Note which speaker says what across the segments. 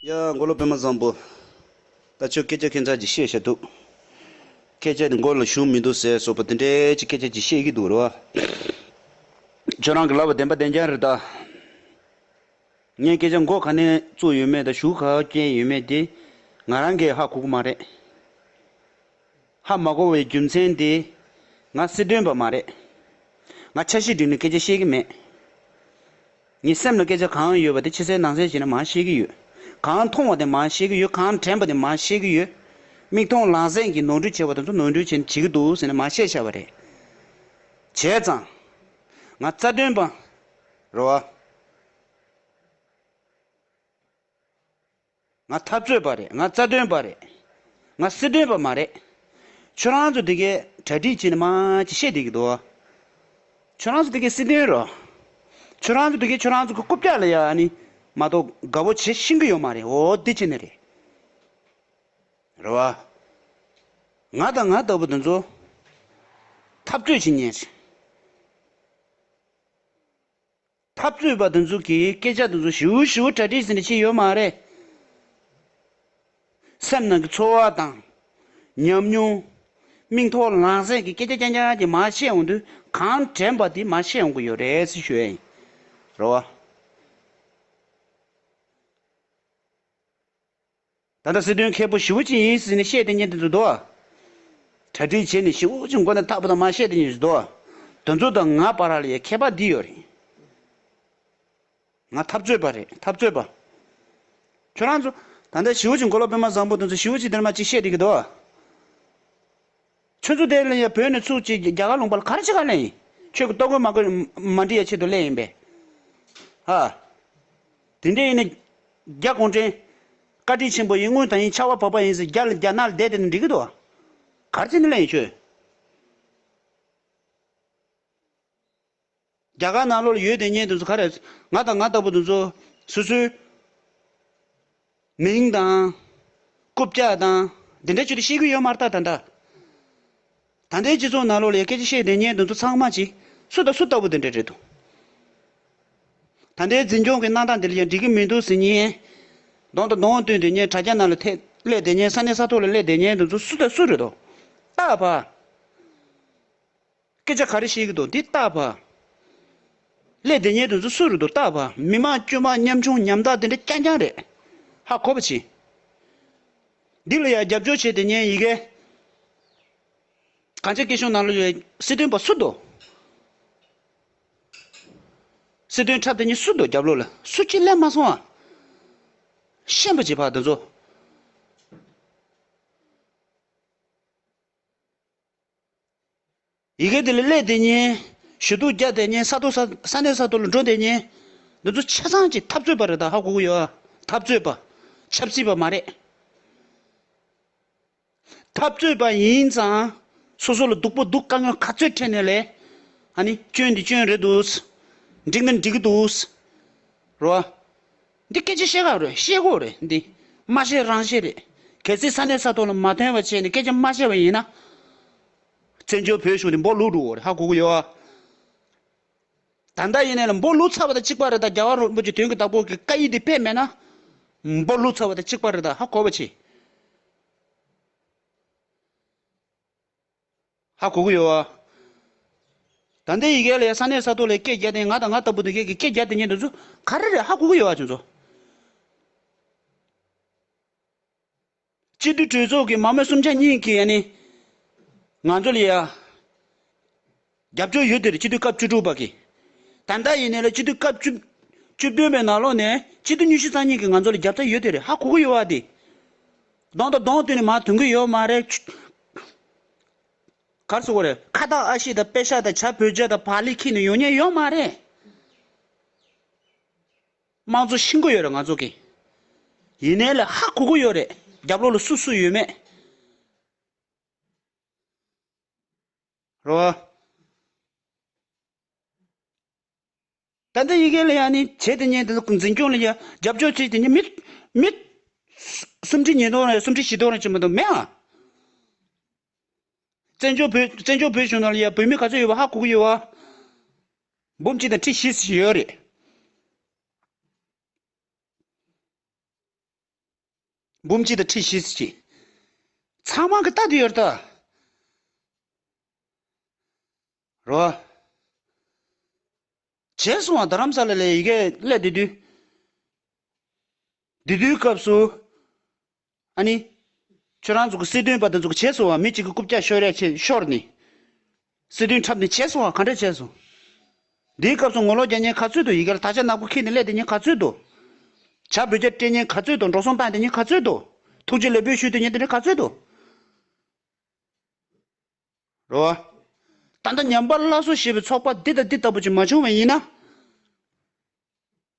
Speaker 1: ཡ། མགོ་ལོག་པད་མ་བཟང་པོ། ད་ཁྱོད་སྐད་ཆ་ཁེངས་དྲགས་ཀྱི་བཤད་བཞག་འདུག། སྐད་ཆ་ནི་མགོ་ལ་ཞུགས་མི་འདུག་ཟེར་སོགས་པ་དེ་འདྲའི་ཅི་སྐད་ཆ་ཅིག་བཤད་ཀྱི་འདུག་རེད་བ། ཁྱོད་རང་གི་ལབ་པ་བདེན་པ་བདེན་རྐྱང་རེད་ད། ངས་སྐད་ཆ་མགོ་ག་ནས་བཙུགས་ཡོད་མེད་དང་ཞུགས་ག་བསྐྱེལ་ཡོད་མེད་དེ་ང་རང་གི་ཧ་གོ་གི་མ་རེད། ཧ་མ་གོ་བའི་རྒྱུ་མཚན་དེ། ང་སྲིད་དོན་པ་མ་རེད། ང་ཆ་ཤས་བསྒྲིགས་ནས་སྐད་ཆ་བཤད་ཀྱི་མེད། ངའི་སེམས་ལ་སྐད་ཆ་གང་ཡོད་པ་དེ་ཕྱི་གསལ་ནང་གསལ་བྱས་ནས་མ་བཤད་ཀྱི་ཡོད། གང་མཐོང་བ་དེ་མ་བཤད་ཀྱི་ཡོད་གང་དྲན་པ་དེ་མ་བཤད་ཀྱི་ཡོད། མིག་མཐོང་ལག་ཟིན་གྱིས་ནོར་འཁྲུལ་བྱས་པ་དེ་ཚོ་ནོར་འཁྲུལ་བྱས་ནས་བྱེད་ཀྱི་འདུག་ཟེར་ནས་མ་བཤད་བྱས་པ་རེད། བྱས་ཙང། ང་རྩ་དོན་པ་རེད། ང་འཐབ་རྩོད་པ་རེད་ང་རྩ་དོན་པ་རེད། ང་སྲིད་དོན་པ་མ་རེད། ཁྱོད་རང་ཚོ་དེ་གའི་གྲ་སྒྲིག་བྱེད་ནི་མ་ཅི་བཤད་བསྡད་ཀྱི་འདུག་ཨ། ཁྱོད་རང་ཚོ་དེ་གའི་སྲིད་དོན་རོ། ཁྱོད་རང་ཚོ་དེ་གའི་ཁྱོད་རང་ཚོ་གི་རྐུབ་བཀྱག་ལ་ཡ་ནི་མ་གཏོགས་དགའ་བོ་བྱེད་ཤིན་གྱི་ཡོད་མ་རེད་འོ་དེ་ཅི་ནི་རེད། རེད་བ། ང་དང་ང་ལྟ་བུ་དེ་ཚོ་འཐབ་རྩོད་བྱེད་ཉན། འཐབ་རྩོད་པ་དེ་ཚོ་གི་སྐད་ཆ་དེ་ཚོ་ཞིའུ་ཞིའུ་གྲ་སྒྲིག་ཟིན་ནས་ཕྱིན་ཡོད་མ་རེད། སེམས་ནང་གི་ཚོར་བ་དང། ཉམས་མྱོང། མིག་མཐོ་ལག་ཟད་ཀྱི་སྐད་ཆ་རྐྱང་རྐྱང་གི་མ་བཤད་འོང་དུས་གང་དྲན་པ་དེ་མ་བཤད་འོང་གི་ཡོད་རེད་ཟེར་ཞུ་ཡ་ཡིན། རེད་བ། ད་ལྟ་སྲིད་དོན་མཁས་པོ་ཞི་བོ་ཅི་ཡིན་ཟིན་ནས་བཤད་དེ་ཉན་དེ་འདུག་དོ། གྲ་སྒྲིག་བྱས་ནས་ཞིང་ཨུ་ཅི་མགོ་ནས་ཐག་པ་དང་མ་བཤད་དེ་ཉན་ཟིན་དོ། དོན་གཙོ་དང་ང་བར་ལ་ཡ་ཁྱད་པ་འདི་ཡོད་རེད། ང་འཐབ་རྩོད་པ་རེད་འཐབ་རྩོད་པ། ཁྱོད་རང་ཚོ། ད་ལྟ་ཞི་བོ་ཅི་མགོ་ལོག་པས་མ་བཟང་པོ་དོན་གཙོ་ཞི་བོ་ཅི་དེར་མ་ཅི་བཤད་དེ་གི་དོ། ཆོས་ཚུལ་དེ་ལ་ཡང་བོད་ནས་ཚུགས་ཀྱིས་རྒྱ་གར་ལུང་པར་ག་རེ་བྱེད་ག་ལེན་ཡིན། ཆོས་ཀྱི་ལྟོ་གོས་མ་གོས་མ་འབྲི་ཡ་ཆེད་དུ་གླས་ཡིན་པས། ཧ། དེ་འདྲས་ཡིན་ན། རྒྱ་གོང་བྲན། བཀའ་དྲིན་ཆེན་པོ་ཡིན་དངུལ་དང་ཡིན་ཕྱག་བ་བབས་པ་ཡིན་ཟེར་རྒྱ་ལ་རྒྱ་ནག་ལ་བསྡད་དེ་ནི་འགྲིག་གི་འདུག་ཨ། ག་རེ་བྱེད་ནི་གླས་ཡིན་ཁྱོད། རྒྱ་གར་ནང་ལོར་ཡོད་དེ་སྙེད་དུ་འདུ་ཁ་རེད། ང་དང་ང་ལྟ་བུ་འདུ་ཚོ། སོ་སོའི། མིང་དང། རྐུབ་བཀྱག་དང། འདི་འདྲའི་ཆོས་དེ་ཤེས་ཀྱི་ཡོད་མ་རྟགས་ད་འདྲ། ད་ལྟའི་སྤྱི་ཚོགས་ནང་ལོར་ལས་སྐད་ཅིག་ཤེས་དེ་སྙེད་འདུ་ཚོ་ཚང་མ་ཅིག། སུ་དང་སུ་ལྟ་བུ་འདི་འདྲའི་རེད་དོ། ད་ལྟའི་འཛིན་སྐྱོང་གི་གནང་སྟངས་འདི་ལ་ཡང་འགྲིག་གི་མི་འདུག་ཟེར་ཉིན། གདོང་དང་གདོང་བསྟུན་དེ་སྙེད་དྲ་རྒྱ་ནང་ལ་ཐེ་སླད་དེ་སྙེད་ས་གནས་ས་ཐོག་ལ་སླད་དེ་སྙེད་འདུ་ཚོ་སུ་དང་སུ་རེད་དོ། རྟགས་པ། སྐད་ཆ་ག་རེ་བཤད་གི་འདུག་འདི་ལྟ་བ། ཀླད་དེ་ཉལ་དུ་འཛུལ་སུ་རུ་འདུག་ལྟ་བ་མི་དམངས་དཀྱུས་མ་ཉམ་ཆུང་ཉམ་ཐག་དེ་འདྲ་རྐྱང་རྐྱང་རེད། ཧ་གོ་བ་བྱིན། འདི་ལ་ཡང་རྒྱབ་སྐྱོར་བྱས་ཏེ་ཉན་ཡི་གེ། གངས་ཅན་སྐད་གཞུང་ནང་ལ་ཡོད་པའི་སྲིད་དོན་པ་སུ་འདུག། སྲིད་དོན་འཁྲབ་སྟེ་ཉིན་སུ་འདུག་རྒྱབ་ལོག་ལ་སུ་ཁྱི་ལེན་མ་སོང་ཨ། ཤེས་པ་བྱེད་ཕ་དེ་ཚོ། ཡི་གེ་དེ་ལས་སླད་དེ་ཉིན། ཞུ་གཏུག་བརྒྱ་དེ་ཉིན་ས་ཐོག་ས་གནས་ས་ཐོག་ལ་འགྲོ་དེ་ཉིན། འདི་ཚོ་ཆ་ཚང་གཅིག་འཐབ་རྩོད་པ་རེད་ད་ཧ་གོ་གི་ཡོད་ཨ། འཐབ་རྩོད་པ། ཆབ་སྲིད་པ་མ་རེད། འཐབ་རྩོད་པ་ཡིན་ཙང། སོ་སོ་ལ་སྡུག་པོ་སྡུག་དཀའ་ངལ་ག་ཚོད་འཕྲད་ནས་ལས། ཨ་ནི་སྐྱོན་འདི་སྐྱོན་རེད་འདུག། འགྲིག་ནི་འགྲིག་གི་འདུག། རོ། འདི་སྐད་ཅེས་བཤད་ག་རེད་བཤད་དགོས་རེད་འདི། མ་བཤད་རང་བཤད་རེད། གལ་སྲིད་ས་གནས་ས་ཐོག་ལ་མ་ཐོན་བ་བྱས་ནས་སྐད་ཆ་མ་བཤད་བ་ཡིན་ན། བཙན་བྱོལ་བོད་གཞུང་འདི་འབོག་ལུག་འགྲོ་གི་རེད་ཧ་གོ་གི་ཡོད། ད་ལྟ་ཡིན་ན་ལ་འབོག་ལུག་ཚ་བ་དང་གཅིག་པ་རེད་ད་རྒྱ་གར་རོལ་པོ་ཆེ་དོན་གྱི་བདག་པོ་གི་བཀའ་ཡིག་འདི་ཕེབས་མེད་ན། འབོག་ལུག་ཚ་བ་དང་གཅིག་པ་རེད་ད་ཧ་གོ་བ་བྱེད། ཧ་གོ་གི་ཡོད། ད་ལྟའི་ཡི་གེ་ལས་ས་གནས་ས་ཐོག་ལས་སྐད་བརྒྱ་སྟེ་ང་དང་ང་ལྟ་བུ་དེ་གས་ཀྱི་སྐད་བརྒྱ་དེ་ཉིད་དུ་ཚུ་ག་རེ་རེད་ཧ་གོ་གི་ཡོད་ཁྱོད་ཚོ། སྤྱི་བསྡུས་གྲོས་ཚོགས་ཀྱི་མ་མོ་གསུམ་ཆ་གཉིས་ཀྱི་ཡ་ནི་ང་ཚོ་ལ་ཡ། རྒྱབ་སྐྱོར་ཡོད་དེར་སྤྱི་འཐུས་སྐབས་བཅུ་དྲུག་པ་གིས། ད་ལྟ་ཡིན་ནའི་ལ་སྤྱི་འཐུས་སྐབས་བཅུ། བཅུ་བདུན་པའི་ནང་ལོགས་ནས་སྤྱི་འཐུས་ཉུ་བཞི་ཚང་གཉིས་ཀྱིས་ང་ཚོ་ལ་རྒྱབ་རྩ་ཡོད་དེར་ཧ་གོ་གི་ཡོད་བ་དེ། གདོང་དང་གདོང་བསྟུན་ནས་མ་དོན་གི་ཡོད་མ་རེད། གར་སོང་བ་རེད། ཁ་བཏགས་ཨ་ཤེ་དང་དཔེ་ཤག་དང་བྱ་བོད་ཇག་དང་བག་ལེ་ཁྱེར་ནས་ཡོང་ཉེན་ཡོད་མ་རེད། དམངས་གཙོ་ཤི་འགོ་ཡོད་རེད་ང་ཚོ་གིས། ཡིན་ནའི་ལ་ཧ་གོ་གི་ཡོད་རེད་རྒྱབ་ལོགས་ལ་སུ་སུ་ཡོད་མེད། རོ། ད་ལྟ་ཡི་གེ་ལ་ཡང་ནི་བྱེད་དེ་ཉིད་དུ་འཛིན་སྐྱོང་ལ་རྒྱབ་སྐྱོར་བྱེད་དེ་ཉིད་མི། མི། སུམ་ཁྲི་ཉིས་སྟོང་རེ་སུམ་ཁྲི་བཞི་སྟོང་རེ་བྱེད་མི་འདུག་མེད་ཨང། བཙན་བྱོལ་བོད་བཙན་བྱོལ་བོད་གཞུང་ནང་ལ་ཡང་བོད་མི་ག་ཚོད་ཡོད་པ་ཧ་གོ་གི་ཡོད་ཨང། འབུམ་གཅིག་དང་ཁྲི་བཞི་ཞིག་ཡོད་རེད། འབུམ་གཅིག་དང་ཁྲི་བཞི་བརྩེགས་ཤིང། ཚངས་དབང་གི་རྟགས་དུ་ཡོད་དོ། རོ། བྱས་སོང་བ་རྡ་རམ་ས་ལ་ལའི་ཡི་གེ་ཀླད་དེ་དུས། དེ་དུས་སྐབས་སུ། ཨ་ནི། ཁྱོད་རང་ཚོ་གི་སྲིད་དོན་པ་དེ་ཚོ་གི་བྱས་སོང་བ་མི་གཅིག་གི་རྐུབ་བཀྱག་ཤོར་ཡ་ཆེ་ཤོར་ནས། སྲིད་དོན་འཁྲབ་ནས་བྱས་སོང་བ་ག་འདྲ་བྱས་སོང། འདིའི་སྐབས་སུ་ངོ་ལོག་རྒྱ་ཉན་ག་ཚོད་དུ་ཡི་གེར་དག་ཆ་ནག་པོ་འཁྱེར་ནས་སླེབས་དེ་ཉིན་ག་ཚོད་དུ། བྱ་འབུལ་རྒྱ་སྤྲད་ཉིན་ག་ཚོད་དུ་འགྲོ་སོང་བཏང་དེ་ཉིན་ག་ཚོད་དུ། ཐུགས་རྗེ་ལེགས་འབུལ་ཞུས་དེ་ཉིན་དེ་འདྲ་ག་ཚོད་དུ། རོ། ད་ལྟ་ཉམས་པར་སླ་སོ་ཞེས་པའི་ཚོགས་པ་འདི་དང་འདི་ལྟ་བུ་ཅིག་མ་བྱུང་བས་ཡིན་ན།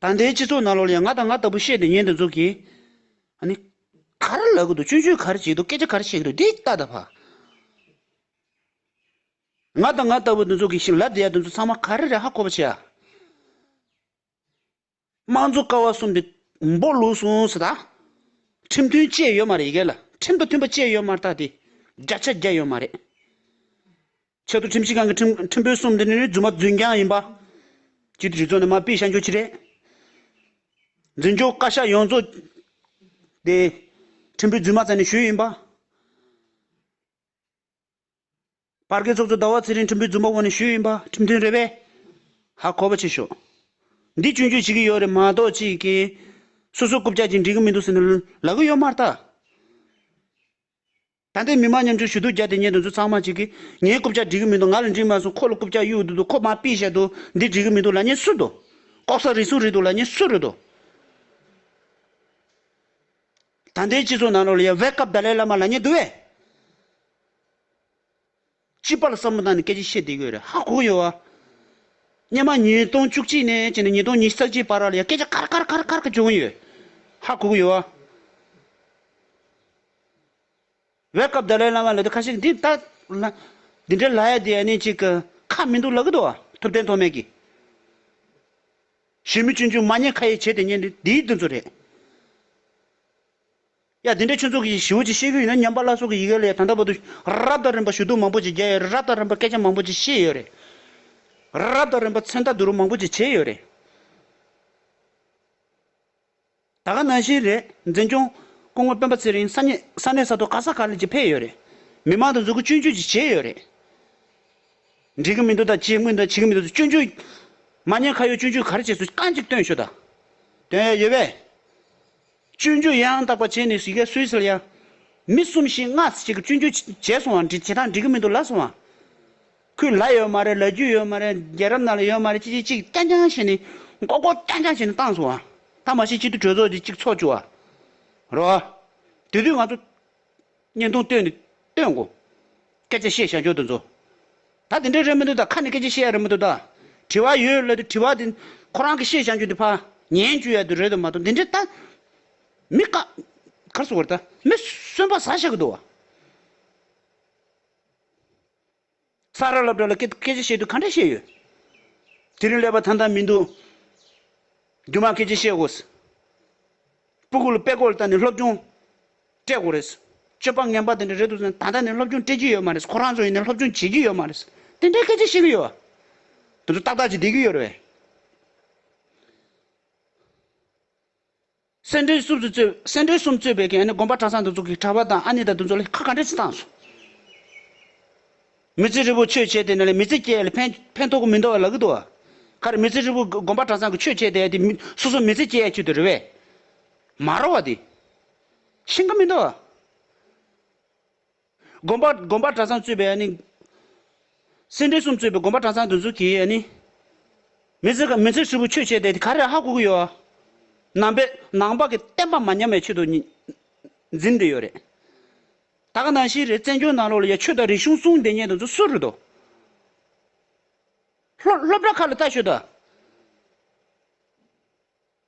Speaker 1: ད་ལྟའི་སྤྱི་ཚོགས་ནང་ལོག་ལ་ཡང་ང་དང་ང་ལྟ་བུ་བཤད་དེ་ཉན་དུ་འཇུག་གིས། ཨ་ནི། ག་རེ་ལབ་གི་འདུག་ཅུན་ཅུན་ག་རེ་བྱེད་ཀྱི་འདུག་སྐད་ཆ་ག་རེ་བཤད་ཀྱི་འདུག་འདི་ལྟ་ད་ཕ། ང་དང་ང་ལྟ་བུ་འདི་ཚོ་གིས་ཤིང་ལབ་བསྡད་ཡ་འདི་ཚོ་ཚང་མ་ག་རེ་རེད་ཧ་གོ་བ་བྱེད་ཨ། དམངས་གཙོ་ཀ་བ་གསུམ་དེ་འབོག་ལུག་སོང་ཟེར་ད། ཁྲིམས་མཐུན་སྤྱད་ཡོད་མ་རེད་ཡི་གེ་ལ་ཁྲིམས་དང་མཐུན་པ་སྤྱད་ཡོད་མ་རེད་ད་དེ་བརྒྱ་ཆ་བརྒྱ་ཡོད་མ་རེད། ཆེད་དུ་ཁྲིམས་ཞིབ་ཁང་གི་ཁྲིམས་དཔོན་གསུམ་འདི་ནི་རྫུན་མ་རྫུན་རྐྱང་ཡིན་པ། གཅིག་དུས་ཚོད་ནི་མ་དཔེ་ཤར་འགྱོད་ཀྱི་རེད། འཛིན་སྐྱོང་བཀའ་ཤག་ཡོངས་རྫོགས་དེ་ཁྲིམས་དཔོན་རྫུན་མ་ཙམ་ནས་བྱོས་ཡིན་པ། བར་བརྒལ་ཚོགས་གཙོ་ཟླ་བ་ཚེ་རིང་ཁྲིམས་དཔོན་རྫུན་པ་བོ་ནས་བྱོས་ཡིན་པ་ཁྲིམས་མཐུན་རེད་པས། ཧ་གོ་བ་བྱེད་ཤོག། འདི་སྐྱོན་བརྗོད་བྱེད་ཀྱི་ཡོད་རེད་མ་གཏོགས་ཅི་གིས། སོ་སོ་རྐུབ་བཀྱག་ཅིང་འགྲིག་གི་མི་འདུག་ཟེར་ནས་ལག་གི་ཡོད་མ་རྟགས། ད་ལྟའི་མི་མང་མཉམ་ཆུང་ཞུ་གཏུག་རྒྱག་དེ་ཉན་དུ་འཛུལ་ཚང་མ་གཅིག་གིས། ངའི་རྐུབ་ལྕག་འགྲིག་གི་མི་འདུག་ང་ལ་འགྲིག་མ་སོང་ཁོ་ལ་རྐུབ་ལྕག་གཡུག་འདུག་འདུག་ཁོ་མ་པིས་བཤད་འདུག་འདི་འགྲིག་གི་མི་འདུག་ལ་ཉེས་སུ་འདུག། ལྐོག་ཟ་རིས་སུ་རིས་འདུག་ལ་ཉེས་སུ་རིས་འདུག། ད་ལྟའི་སྤྱི་ཚོགས་ནང་རོ་ལ་ཡ་བྷེ་སྐབས་ད་ལའི་བླ་མ་ལ་ཉེས་འདུག་བས། སྤྱི་པ་ལ་བསམ་བློ་བཏང་ནས་སྐད་ཅིག་བཤད་བསྡད་དགོས་རེད་ཧ་གོ་ཡོད་བ། སྙེ་མ་ཉིས་སྟོང་བཅུ་གཅིག་ནས་བཅད་ནས་ཉིས་སྟོང་ཉིས་བརྩེགས་གཅིག་བར་ལ་ཡང་སྐད་ཆ་ཁར་ཁར་ཁར་ཁར་ཁར་བྱུང་ཡོད་ཧ་གོ་གི་ཡོད་བ། བའི་སྐབས་དར་ལའི་བླ་མ་ལ་དེ་ཁ་ཤས་འདི་ལྟ། འདི་འདྲའི་ལ་ཡ་དེ་ཡ་ནི་ཅིག་གི་ཁ་མི་འདུག་ལ་གི་འདུག་བ་ཐུབ་བསྟན་ཐོགས་མེད་ཀྱི། གཞོན་མི་ཆུང་ཆུང་མ་ཉེས་ཁ་ཡེ་བྱས་དེ་ཉེས་འདི་འདིའི་འདི་ཚོ་རེད། ཡ། འདི་འདྲའི་ཆོས་ཚོགས་ཀྱི་ཞིའུ་ཅིག་ཤེས་རྒྱུ་ཡིན་ན་ཉམས་པ་བླ་སྲོག་གི་ཡི་གེ་ལས་ད་ལྟ་བར་དུ། རབ་དང་རིམ་པ་ཞུ་གཏུགས་མང་པོ་ཅིག་རྒྱལ་ཡོད་རེད་རབ་དང་རིམ་པ་སྐད་ཆ་མང་པོ་ཅིག་བཤད་ཡོད་རེད། རབ་དང་རིམ་པ་མཚན་རྟགས་བསྡུ་རུབ་མང་པོ་ཅིག་བྱས་ཡོད་རེད། ད་ག་ནང་བཞིན་རེད་འཛིན་སྐྱོང། སྐུ་ངོ་སྤེན་པ་ཚེ་རིང་ས་གནས་ས་གནས་ས་ཐོག་ག་ས་ག་ལ་ཅིག་ཕེབས་ཡོད་རེད། མི་མང་དང་འཛུལ་ཁུག་སྤྱོད་འཇུག་ཅིག་བྱས་ཡོད་རེད། འགྲིག་གི་མི་འདུག་ད་བྱེད་དངོས་ད་བྱེད་ཀྱི་མི་འདུག་སྤྱོད་འཇུག། མ་ཉེས་ཁ་ཡོད་སྤྱོད་འཇུག་ག་རེ་བྱས་སོ་རྐང་གཅིག་སྟོན་ཞུ་ད། སྟོན་ཡ་ཡོད་པས། སྤྱོད་འཇུག་ཡང་དག་པར་བྱས་ནས་ཞིག་ག་སུས་ཟེར་ཡང། མི་གསུམ་ཞིག་སྔ་ཕྱི་ཞིག་གི་སྤྱོད་འཇུག་བྱས་སོང་བ་བྱེད་སྟངས་འགྲིག་གི་མི་འདུག་ལབ་སོང་བ། ཁོས་ལ་ཡོད་མ་རེད་ལ་རྒྱུ་ཡོད་མ་རེད་རྒྱལ་རབས་ནང་ལ་ཡོད་མ་རེད་ཅི་ཅི་ཅིག་རྐྱང་རྐྱང་བྱས་ནས་མགོ་སྐོར་རྐྱང་རྐྱང་བྱས་ནས་བཏང་སོང་བ། ད་མ་ཤེས་ཅི་ཐུག་གྲོས་ཚོགས་ཀྱི་ཅིག་ཚོགས་བཅུག་བ་རོ། དེ་དུས་ང་ཚོ། བརྙན་ཐུང་ལྟོས་ནས་སྟོན་དགོས། སྐད་ཆ་བཤད་ཤ་འཇོག་ཏུ་འཛོ། ད་དེ་འདྲའི་རེད་མི་འདུག་ད་ཁ་ནས་སྐད་ཆ་བཤད་ཡ་རེད་མི་འདུག་ད། དྲི་བ་ཡོད་སླད་དུ་དྲི་བ་དེ། ཁོ་རང་གི་བཤད་བྱ་རྒྱུ་དེ་ཕ། ཉན་རྒྱུ་ཡ་དུ་རེད་དུ་མ་གཏོགས་འདི་འདྲའི་ད། མི་ཀ། གར་སོང་བ་རེད་ད། མི་གསོན་པ་ཟ་ཤ་གི་འདུག་བ། ཚ་ར་ལབ་དྲག་ལ་སྐད་སྐད་ཆ་བཤད་དུས་ག་འདྲ་བཤད་ཡོད། དེ་རིང་ཀླད་པ་ཐང་ཐང་མི་འདུག། རྒྱུ་མ་སྐད་ཆ་བཤད་དགོས། སྤུ་གུ་ལ་པད་གོག་ལ་བལྟ་ནས་སློབ་སྦྱོང་སྤྲད་དགོས་རེད། སྤྱོད་པ་ངན་པ་དེ་འདྲ་རེད་འདུག་ད་ལྟ་ནས་སློབ་སྦྱོང་སྤྲད་ཀྱི་ཡོད་མ་རེད་ཁོ་རང་ཚོ་ཡིན་ནའི་སློབ་སྦྱོང་བྱེད་ཀྱི་ཡོད་མ་རེད། དེ་འདྲའི་སྐད་ཆ་བཤད་ཀྱི་ཡོད། དེ་ཚོ་ཏག་ཏག་ཅིག་བསྡད་ཀྱི་ཡོད་རེད། སེ་འབྲས་གསུམ་གཙོས་པའི་གན་ནི་དགོན་པ་གྲྭ་ཚང་འདུ་ཚོགས་ཀྱི་གྲྭ་པ་དང་ཨ་ནེ་དང་འདུ་ཚོགས་ལས་ཁག་གང་དྲན་ཚེ་བཏང་སོང། མི་ཚེ་རིལ་བོ་ཆོས་བྱས་ཏེ་ནི་ལ་མི་ཚེ་སྐྱེལ་ལ་ཕན་ཐོག་གི་མི་འདོར་བ་ལ་གི་འདོར་བ། ཁ་རེ་མི་ཚེ་རིལ་བོ་དགོན་པ་གྲྭ་ཚང་གི་ཆོས་བྱས་ཏེ་དེ་སོ་སོ་མི་ཚེ་སྐྱེལ་ཡ་ཁྱུ་དེ་རེ་བས། མ་རོ་བ་དེ། ཤིང་གི་མི་འདོར་བ། དགོན་པ་དགོན་པ་གྲྭ་ཚང་གཙོས་པའི་ནི། སེར་འབྲས་གསུམ་གཙོས་པའི་དགོན་པ་གྲྭ་ཚང་འདི་ཚོ་གིས་ནི། མི་ཚེ་ག་མི་ཚེ་ཧྲིལ་པོ་ཆོས་བྱས་ཏེ་ག་རེ་ཧ་གོ་གི་ཡོད། ནང་པའི་ནང་པ་གི་བསྟན་པ་མ་ཉམས་པའི་ཆེད་དུ། འཛིན་འདི་ཡོད་རེད། ད་ག་ནང་བཞིན་རེད་བཙན་བྱོལ་ནང་ལོག་ལ་ཡ་ཆོས་དང་རིག་གཞུང་གསུང་བདེ་ཉན་དེ་ཚོ་སུ་རེད་དོ། སློབ་སློབ་གྲྭ་ཁག་ལ་ལྟ་ཞོད་ད།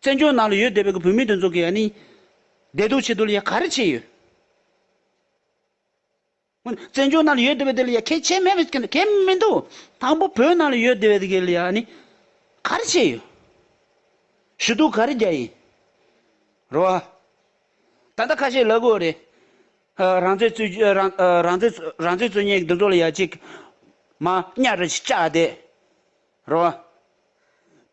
Speaker 1: བཙན་བྱོལ་ནང་ལ་ཡོད་བསྡད་པའི་གི་བོད་མི་དེ་ཚོ་གི་ཨ་ནི། བདེ་སྡུག་ཆེད་དུ་ལ་ཡ་ག་རེ་བྱས་ཡོད། ཧོན། བཙན་བྱོལ་ནང་ལ་ཡོད་བསྡད་པའི་དེ་ལ་ཡ་གས་ཆེ་མེད་པའི་གི་གས་མི་འདུག། དང་པོ་བོད་ནང་ལ་ཡོད་བསྡད་པའི་དེ་གི་ལ་ཡ་ཨ་ནི། ག་རེ་བྱས་ཡོད། ཞུ་གཏུག་ག་རེ་རྒྱག་ཡིན། རོ་ཨ། ད་ལྟ་ཁ་ཤས་ལ་གོ་རེ། ཨ་རང་བཙན་རྩོད་རྒྱུ་ཨ་རང་རང་བཙན་རང་བཙན་རྩོད་ཉེས་གི་དེ་ཚོ་ལ་ཡ་གཅིག། མ་གཉའ་རེ་ཅག་བསྡད། རེད་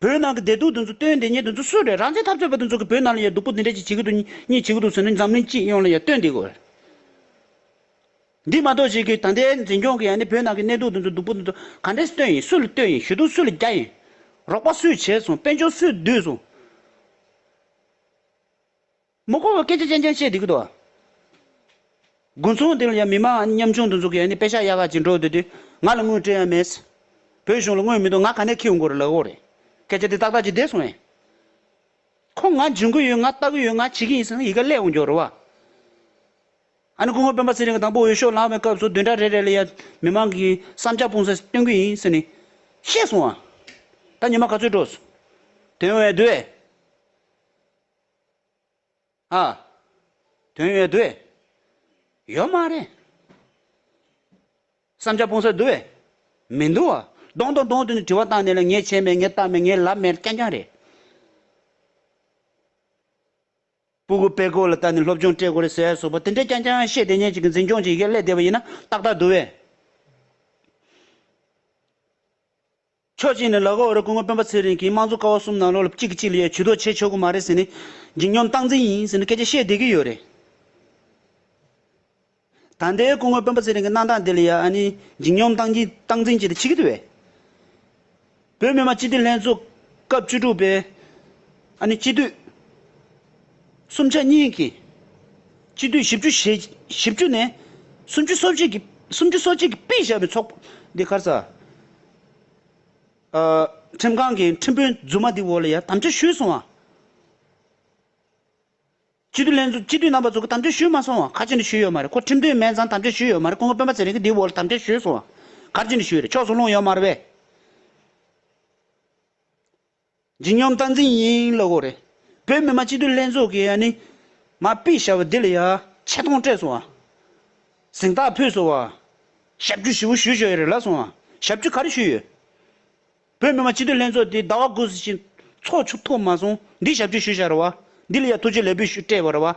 Speaker 1: བ། བོད་ནང་གི་བདེ་སྡུག་འདི་ཚོ་སྟོན་བདེ་ཉེས་འདི་ཚོ་སུ་རེད་རང་བཙན་འཐབ་རྩོད་པ་འདི་ཚོ་གི་བོད་ནང་ལ་ཡ་སྡུག་པོ་འདི་འདྲ་ཅིག་བྱེད་ཀྱི་འདུག་གཉིས་བྱེད་ཀྱི་འདུག་ཟེར་ནས་འཛམ་གླིང་སྤྱི་ཡོངས་ལ་ཡ་སྟོན་བདེ་དགོས་རེད། འདི་མ་གཏོགས་ཅིག་གི་ད་ལྟའི་འཛིན་སྐྱོང་གི་ཡ་ནི་བོད་ནང་གི་གནས་སྡུག་འདི་ཚོ་སྡུག་པོ་འདི་ཚོ་ག་འདྲས་སྟོན་ཡིན་སུ་ལ་སྟོན་ཡིན་ཞུ་གཏུག་སུ་ལ་རྒྱག་ཡིན། རོགས་པ་སུས་བྱས་སོང་དཔལ་འབྱོར་སུས་བསྡུས་སོང། མི་གོ་བའི་སྐད་ཆ་ཅན་ཅན་བཤད་འདི་གི་དོ། དགུན་ཚོང་འདི་ལ་ཡང་མི་དམངས་མཉམ་ཆུང་དུ་འཛུགས་ཀྱི་ཡ་ནི་དཔེ་ཤ་ཡ་ག་ཅིག་འགྲོ་འདོད་དུས་ང་ལ་དངུལ་སྤྲད་ཡ་མེད། བོད་གཞུང་ལ་དངུལ་མི་འདུག་ང་ག་ནས་ཁྱེའུ་མགོ་རེད་ལག་འོག་རེད། སྐད་ཆ་འདི་ཏག་ཏག་ཅིག་བསྡད་སོང་ཡ། ཁོ་ང་འཇོན་གི་ཡོད་ང་ལྟ་གི་ཡོད་ང་བྱེད་ཀྱི་ཡིན་ཟེར་ན་ཡི་ག་ཀླད་འོང་རྒྱུ་རེད་བ། ཨ་ནི་སྐུ་ངོ་སྤེན་པ་ཚེ་རིང་གི་དང་པོ་འོས་ཤོག་ལངས་བའི་སྐབས་སུ་བདུན་ཕྲག་རེ་རེ་ལ་ཡ་མི་དམངས་ཀྱི་བསམ་འཆར་སྤུངས་སར་སྟོན་གྱི་ཡིན་ཟེར་ནས་བཤད་སོང་བ། ད་ཉི་མ་ག་ཚོད་འགྲོ། དོན་འོས་དོད། ཨ། དོན་ཡོད་དུ། ཡོད་མ་རེད། བསམ་འཆར་སྤུངས་ས་འདུག་བས། མི་འདུག་བ། གདོང་དང་གདོང་དུ་ནས་དྲི་བ་བཏང་ནས་ལ་ངས་བྱས་མེད་ངས་བཏང་མེད་ངས་ལབ་མེད་རྐྱང་རྐྱང་རེད། སྤུ་གུ་པད་ཀོ་ལ་བལྟ་ནས་སློབ་སྦྱོང་སྤྲད་དགོས་རེད་ཟེར་ཡ་སོགས་པ་དེ་འདྲས་རྐྱང་རྐྱང་བཤད་དེ་ཉིན་གཅིག་གི་འཛིན་སྐྱོང་གཅིག་ཡི་གེ་བསླད་བསྡད་པ་ཡིན་ན་ཏག་ཏག་འདུག་བས། ཕྱོགས་གཅིག་ནས་ལ་ཁོ་བོ་ར་སྐུ་ངོ་སྤེན་པ་ཚེ་རིང་གིས་དམངས་གཙོ་ཀ་བ་གསུམ་ནང་ལོགས་ལ་གཅིག་གིས་གཅིག་ལ་ཡ་བྱུས་དོགས་བྱེད་ཆོག་གི་མ་རེད་ཟེར་ནས། འཇིགས་སྙོམས་སྟངས་འཛིན་ཡིན་ཟེར་ནས་སྐད་ཆ་བཤད་བསྡད་ཀྱི་ཡོད་རེད། ད་ལྟའི་སྐུ་ངོ་སྤེན་པ་ཚེ་རིང་གི་གནང་སྟངས་འདི་ལ་ཡ་ཨ་ནི་འཇིགས་སྙོམས་སྟངས་འཛིན་སྟངས་འཛིན་བྱེད་དུ་ཆིག་གི་འདུག་བས། བོད་མི་མང་སྤྱི་འཐུས་ལྷན་ཚོགས་སྐབས་བཅུ་དྲུག་པའི་ཨ་ནི་སྤྱི་འཐུས། སུམ་ཆ་གཉིས་ཀྱིས་སྤྱི་འཐུས་བཞི་བཅུ་ཞེ་བཞི་བཅུ་ནས་སུམ་ཅུ་སོ་གཅིག་གིས་སུམ་ཅུ་སོ་གཅིག་གིས་སྤེལ་བཞག་པའི་ཚོགས་པ་འདི་ཁར་ས་ཁྲིམས་ཁང་གིས་ཁྲིམས་དཔོན་རྫུན་མ་འདི་འོག་ལ་ཡང་དམ་བཅའ་ཞུས་སོང་བ། སྤྱི་འཐུས་ལྷན་ཚོགས་སྤྱི་འཐུས་རྣམ་པ་ཚོ་གིས་དམ་བཅའ་ཞུས་མ་སོང་བ་ག་ཅི་ནས་ཞུས་ཡོད་མ་རེད་ཁོ་ཁྲིམས་དོན་མན་ཚང་དམ་བཅའ་ཞུས་ཡོད་མ་རེད་ཁོང་གི་དཔོན་པ་ཚེ་རིང་གིས་འདི་འོག་ལ་དམ་བཅའ་ཞུས་སོང་བ་ག་ཅི་ནས་ཞུས་ཡོད་རེད་ཕྱོགས་སུ་ལྷུང་ཡོད་མ་རེད་བས། ཇི་སྙམ་བསྟན་འཛིན་ཡིན་ལོ་གོ་རེད། བོད་མི་མང་སྤྱི་འཐུས་ལྷན་ཚོགས་ཀྱི་ཡ་ནི། མ་པི་ཞབས་བདེ་ལ་ཡ། ཆེ་མཐོང་སྤྲད་སོང་བ། གཟེངས་རྟགས་ཕུལ་སོང་བ། ཞབས་ཀྱུ་ཞི་བོ་ཞུས་ཆོག་ཡ་རེད་ལབ་སོང་བ། ཞབས་ཀྱུ་ག་རེ་ཞུས་ཡོད། བོད་མི་མང་སྤྱི་འཐུས་ལྷན་ཚོགས་དེ་ཟླ་བ་དགུ་ཟིན་ཕྱིན། ཚོགས་ཆུ་ཐོབ་མ་སོང་འདི་ཞབས་ཀྱུ་ཞུས་ཤག་རེད་བ། འདི་ལ་ཡ་ཐུགས་རྗེ་ལེགས་འབུལ་ཞུས་སྤྲད་བ་རེད་བ།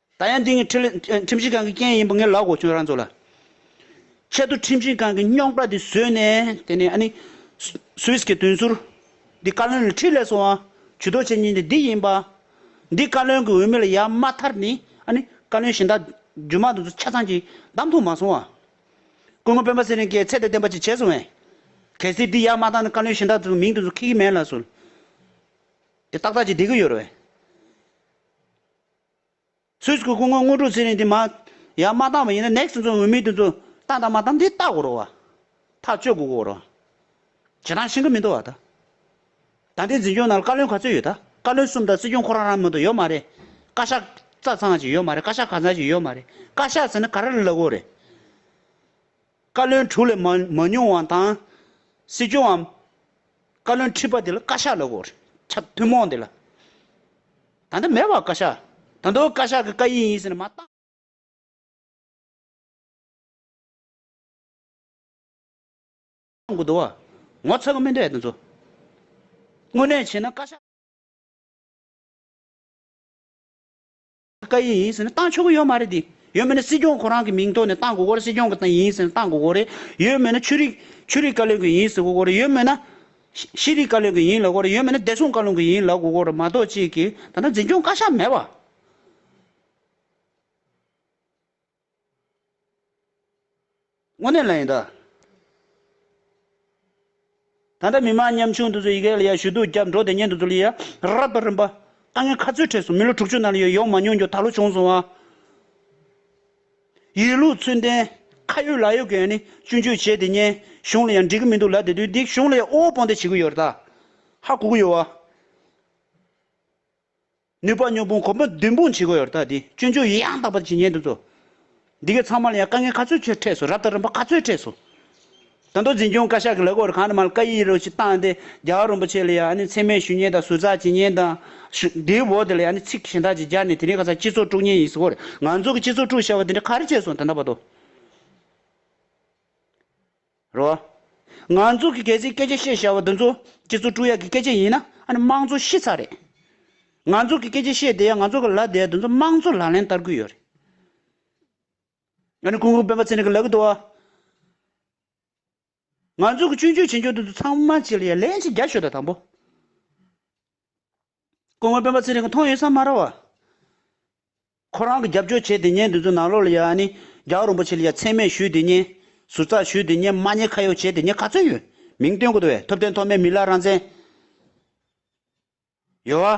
Speaker 1: ད་ཡང་འདི་ངའི་ཁྲིམས་ཞིབ་ཁང་གི་རྐྱེན་ཡིན་པ་ངས་ལབ་གོ་ཁྱོད་རང་ཚོ་ལ། ཁྱེད་ཚོ་ཁྲིམས་ཞིབ་ཁང་གི་རྙོག་དྲ་འདི་བཟོས་ནས་དེ་ནས་ཨ་ནི། Swiss གི་དོན་ཟུར། འདི་བཀའ་བློན་ལ་ཁྲིད་ལས་སོང་ཨ། ཇུས་གཏོགས་བྱེད་ཉེན་དེ་འདི་ཡིན་པ། འདི་བཀའ་བློན་གྱི་འོས་མི་ལ་ཡ་མ་མཐར་ནི་ཨ་ནི། བཀའ་བློན་གཞན་དག་རྒྱུ་མང་དུ་ཚོ་ཆ་ཚང་གྱིས་བདམས་ཐུབ་མ་སོང་ཨ། སྐུ་ངོ་སྤེན་པ་ཚེ་རིང་ཀའི་ཚད་དང་ལྡན་པ་ཅིག་བྱས་སོང་ཨེ། གལ་སྲིད་འདི་ཡ་མ་བཏང་ན་བཀའ་བློན་གཞན་དག་ཚོ་མིང་དུ་ཚོ་ཁེལ་གི་མེད་ལ་སོ། དེ་ཏག་ཏག་ཅིག་བསྡད་ཀྱི་ཡོད་རེད། ཚོས་ཀྱི་སྐུ་ངོ་དངོས་གྲུབ་ཚེ་རིང་དེ་མ། ཡང་མ་བཏང་བ་ཡིན་ན next ཚོ་འོས་མི་དེ་ཚོ་བཏང་དང་མ་བཏང་དེ་བལྟ་དགོས་རོགས། ཐག་གཅོད་དགོས་དགོས་རོགས། བྱེད་སྟངས་ཤིན་ཏུ་མི་འདོ་བ་དང། ད་ལྟའི་འཛིན་སྐྱོང་ནང་བཀའ་བློན་ག་ཚོད་ཡོད་དང་བཀའ་བློན་གསུམ་དང་སྲིད་སྐྱོང་ཁོ་རང་རང་མི་འདུག་ཡོད་མ་རེད། བཀའ་ཤག་རྩ་ཚང་ཞིག་ཡོད་མ་རེད་བཀའ་ཤག་གང་ཚང་ཞིག་ཡོད་མ་རེད་བཀའ་ཤག་ཟེར་ན་ག་རེ་ལ་ལག་འོག་རེད། བཀའ་བློན་དྲུག་ལས་མ་ཉུང་བ་དང། སྲིད་སྐྱོང་བམ། བཀའ་བློན་ཁྲི་པ་དེ་ལ་བཀའ་ཤག་ལ་གོ། ཁྱབ་ཐུན་མོང་དེ་ལ། ད་ལྟ་མེད་བ་བཀའ་ཤག། ད་ལྟ་བཀའ་ཤག་གི་བཀའ་ཡིག་ཡིན་ཟེར་ནས་མ། བཏང་དགོས་འདུག་བ། ངོ་ཚ་གི་མི་འདྲ་དེ་ཚོ། དངོས་གནས་བྱས་ན་བཀའ་ཤག། བཀའ་ཡིན་ཟེར་ན་བཏང་ཆོག་གི་ཡོད་མ་རེད་དེ། ཡོད་མེད་ན་སྲིད་སྐྱོང་ཁོ་རང་གི་མིང་ཐོག་ནས་བཏང་དགོས་སྐོར་རེད་སྲིད་སྐྱོང་གི་ཡིན་ཟེར་ན་བཏང་དགོས་སྐོར་རེད། ཡོད་མེད་ན་ཆོས་རིག་ཆོས་རིག་བཀའ་བློན་གྱི་ཡིན་ཟེར་དགོས་སྐོར་རེད་ཡོད་མེད་ན། ཤེས་རིག་བཀའ་བློན་གྱི་ཡིན་ལབ་དགོས་རེད་ཡོད་མེད་ན་བདེ་སྲུང་བཀའ་བློན་གྱི་ཡིན་ལབ་དགོས་སྐོར་རེད་མ་གཏོགས་ཅིག་གིས་ད་ནང་འཛིན་སྐྱོང་བཀའ་ཤག་མེད་པ། དངོས་གནས་ལ་ཡིན་ད། ད་ལྟ་མི་མང་ཉམ་ཆུང་འདི་ཚོས་ཡི་གེ་ལ་ཡར་ཞུ་གཏུག་བརྒྱབ་འགྲོ་དེ་ཉིད་འདི་ཚོ་ལ་ཡར་རབ་པ་རིམ་པ་ཨ་ངའི་ཁ་རྩོད་འཕྲད་སོང་མི་ལོ་དྲུག་ཅུ་ནང་ལ་ཡོད་ཡོང་མ་མྱོང་རྒྱུ་ད་ལོ་བྱུང་སོང་ཨ། ཡིན་ལུགས་ཚུལ་ལྡན་ཁ་ཡོད་ལག་ཡོད་མཁན་ནི་སྤྱོད་འཇུག་བྱེད་དེ་ཉན་གཞུང་ལ་ཡང་འགྲིག་གི་མི་འདུག་ལ་དེ་དུས་འདི་གཞུང་ལ་ཡང་དབུལ་བོ་སྤོང་སྡད་བྱེད་ཀྱི་ཡོད་རེད་ད། ཧ་གོ་གི་ཡོད་ཨ། ནུས་པ་སྨྱོ་སྤུངས་གོམ་པ་མདུན་སྤུངས་བྱེད་དགོས་ཡོད་རྟགས་འདི་སྤྱོད་འཇུག་ཡི་ཡང་དག་པར་བྱེད་ཉན་ཐུབ་ཚོ། འདི་གའི་ཚང་མ་ལ་ཡང་དཀའ་ངལ་ག་ཚོད་ཆེ་འཕྲད་སོང་རབ་དང་རིམ་པ་ག་ཚོད་འཕྲད་སོང། ད་དུང་འཛིན་སྐྱོང་བཀའ་ཤག་གི་ལས་ཁུངས་རུ་ཁག་ནས་མ་ལ་བཀའ་ཡིག་རུ་ཅིག་བཏང་སྟེ་རྒྱ་གར་རིན་པོ་ཆེ་ལ་ཡང་ཨ་ནི་མཚན་སྨད་ཞུ་ཉན་དང་ཟུར་ཟ་བྱེད་ཉན་དང། དེའི་འོག་དེ་ལ་ཡང་ཨ་ནི་ཚིག་གཞན་དག་ཅིག་སྦྱར་ནས་དེ་རིང་ག་ཚ་སྤྱི་ཚོགས་དཀྲུགས་ཉན་ཡིན་ཟེར་བ་རེད་ང་ཚོ་གི་སྤྱི་ཚོགས་དཀྲུགས་བྱ་བ་དེ་འདྲ་ག་རེ་བྱས་སོང་ད་ནང་བར་དུ། རོ། ང་ཚོ་གི་གལ་སྲིད་སྐད་ཆ་བཤད་ཤེས་བ་འདི་ཚོ་སྤྱི་ཚོགས་དཀྲུག་ཡ་གི་སྐད་ཆ་ཡིན་ན་ཨ་ནི་དམངས་གཙོ་ཤི་ཚར་རེད། ང་ཚོ་གི་སྐད་ཆ་བཤད་བསྡད་ཡ་ང་ཚོ་གི་ལབ་བསྡད་ཡ་འདི་ཚོ་དམངས་གཙོ་ལག་ལེན་བསྟར་གི་ཡོད་རེད། ཨ་ནི་སྐུ་ངོ་སྤེན་པ་ཚེ་རིང་གི་ལབ་གི་འདུག་བ། ང་ཚོ་གི་སྤྱོད་འཇུག་བྱེད་འཇུག་འདི་ཚོ་ཚང་མ་བྱེད་ལ་ཡ་ལན་གཅིག་རྒྱ་ཤོད་ད་དང་པོ། སྐུ་ངོ་སྤེན་པ་ཚེ་རིང་གི་མཐོང་ཡོད་ས་མ་ར་བ། ཁོ་རང་གི་རྒྱབ་སྐྱོར་བྱས་དེ་ཉན་དུས་ཚོ་ནང་ལོག་ལ་ཡ་ནི་རྒྱ་བ་རིན་པོ་ཆེ་ལ་ཡ་ཚད་མེད་ཞུས་དེ་ཉན། ཟུར་ཚག་ཞུས་དེ་ཉན་མ་ཉན་ཁ་ཡོག་བྱས་དེ་ཉན་ག་ཚོད་ཡོད། མིང་བཏོན་དགོས་དོ་བས་ཐུབ་བསྟན་ཐོག་མའི་མི་ལ་རང་བཙན། ཡོད་བ།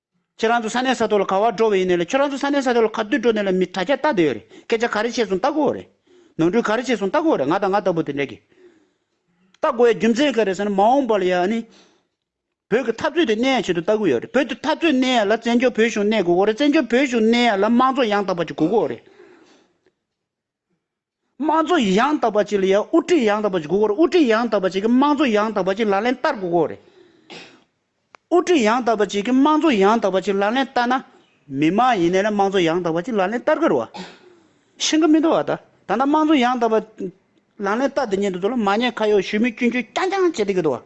Speaker 1: ཁྱེད་རང་ཚོ་ས་གནས་ས་ཐོག་ལ་ག་བར་འགྲོ་བའི་ཡིན་ནའི་ལ་ཁྱོད་རང་ཚོ་ས་གནས་ས་ཐོག་ལ་ག་དུས་འགྲོ་ནའི་ལ་མི་དྲ་རྒྱ་རྟག་དེ་ཡོད་རེད་སྐད་ཆ་ག་རེ་བྱས་སོང་ལྟ་གོ་རེད། ནོར་འཁྲུལ་ག་རེ་བྱས་སོང་ལྟ་གོ་རེད་ང་དང་ང་ལྟ་བུ་དེ་འདྲས་ཀྱིས་ལྟ་གོ་ཡ་རྒྱུ་མཚན་ག་རེ་ཟེར་ན་མ་འོངས་པ་ལ་ཡ་ནི་བོད་ཀྱི་འཐབ་རྩོད་དེ་གནས་ཡ་བྱེད་དུ་ལྟ་གི་ཡོད་རེད་བོད་དེ་འཐབ་རྩོད་གནས་ཡ་ལ་བཙན་བྱོལ་བོད་གཞུང་གནས་དགོས་གོ་རེད་བཙན་བྱོལ་བོད་གཞུང་གནས་ཡ་ལ་དམངས་གཙོ་ཡང་དག་པ་ཅིག་དགོས་གོ་རེད། དམངས་གཙོ་ཡང་དག་པ་བཅས་ལ་ཡང་དབུ་ཁྲིད་ཡང་དག་པ་བཅས་དགོས་སྐོར་དབུ་ཁྲིད་ཡང་དག་པ་བཅས་ཀྱི་དམངས་གཙོ་ཡང་དག་པ་བཅས་ལག་ལེན་བསྟར་དགོས་སྐོར། དབུ་ཁྲིད་ཡང་དག་པ་བཅས་ཀྱི་དམངས་གཙོ་ཡང་དག་པ་བཅས་ལག་ལེན་བསྟར་ན། མི་དམངས་ཡིན་ནའི་དམངས་གཙོ་ཡང་དག་པ་བཅས་ལག་ལེན་བསྟར་དགོས་རུང་བ། ཤིང་ཀ་མི་འདུག་བ་དང་ད་ལྟ་དམངས་གཙོ་ཡང་དག་པ་ལག་ལེན་བསྟར་དུ་ཉེ་དུ་ཚོ་ལ་མ་ཉེས་ཁ་གཡོག་ཞུས་མིན་སྐྱོན་བརྗོད་རྐྱང་རྐྱང་བྱེད་བསྡད་ཀྱི་འདུག་བ།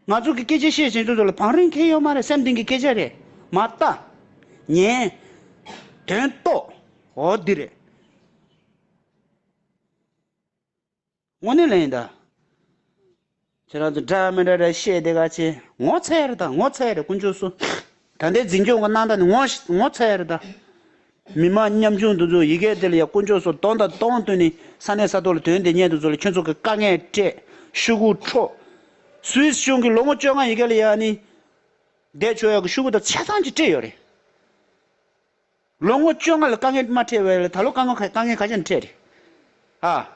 Speaker 1: ང་ཚོ་གི་སྐད་ཆ་བཤད་བཞིན་དུ་ཚོ་ལ་བང་རིམ་འཁེལ་ཡོད་མ་རེད་སེམས་གཏིང་གི་སྐད་ཆ་རེད་མ་ལྟ། ཉན། དོན་རྟོགས། འོ་འདི་རེད། དངོས་གནས་ལན་ཡིན་ད། ཁྱེད་རང་ཚོ་འདྲ་མི་འདྲ་འདྲ་བཤད་དེ་ག་ཅེ། ངོ་ཚ་ཡ་རེད་ད་ངོ་ཚ་ཡ་རེད་དཀོན་མཆོག་སུ། ད་ལྟའི་འཛིན་སྐྱོང་གི་གནང་སྟངས་ནི་ངོ་ཚ་ཡ་རེད་ད། མི་དམངས་ཉམ་ཆུང་འདི་ཚོས་ཡི་གེ་དེ་ལ་ཡ་དཀོན་མཆོག་སོགས་གདོང་དང་གདོང་བསྟུན་ནས་ས་གནས་ས་ཐོག་ལ་དོན་དེ་སྙེད་དུ་ཚོ་ལ་ཁྱོད་ཚོ་གི་དཀའ་ངལ་སྤྲད་ཤུ་གུ་འཕྲོག། Swiss གཞུང་གི་ལོ་ངོ་བཅོ་ལྔ་ཡི་གེ་ལ་ཡ་ནི་འདས་ཆོག་ཡ་གི་ཤུ་གུ་དང་ཆ་ཚང་གཅིག་སྤྲད་ཡོད་རེད། ལོ་ངོ་བཅོ་ལྔ་ལ་དཀའ་ངལ་མ་འཕྲད་བས་ལ་ད་ལོ་དཀའ་ངལ་དཀའ་ངལ་ག་ཤེད་འཕྲད་རེད་ཨ།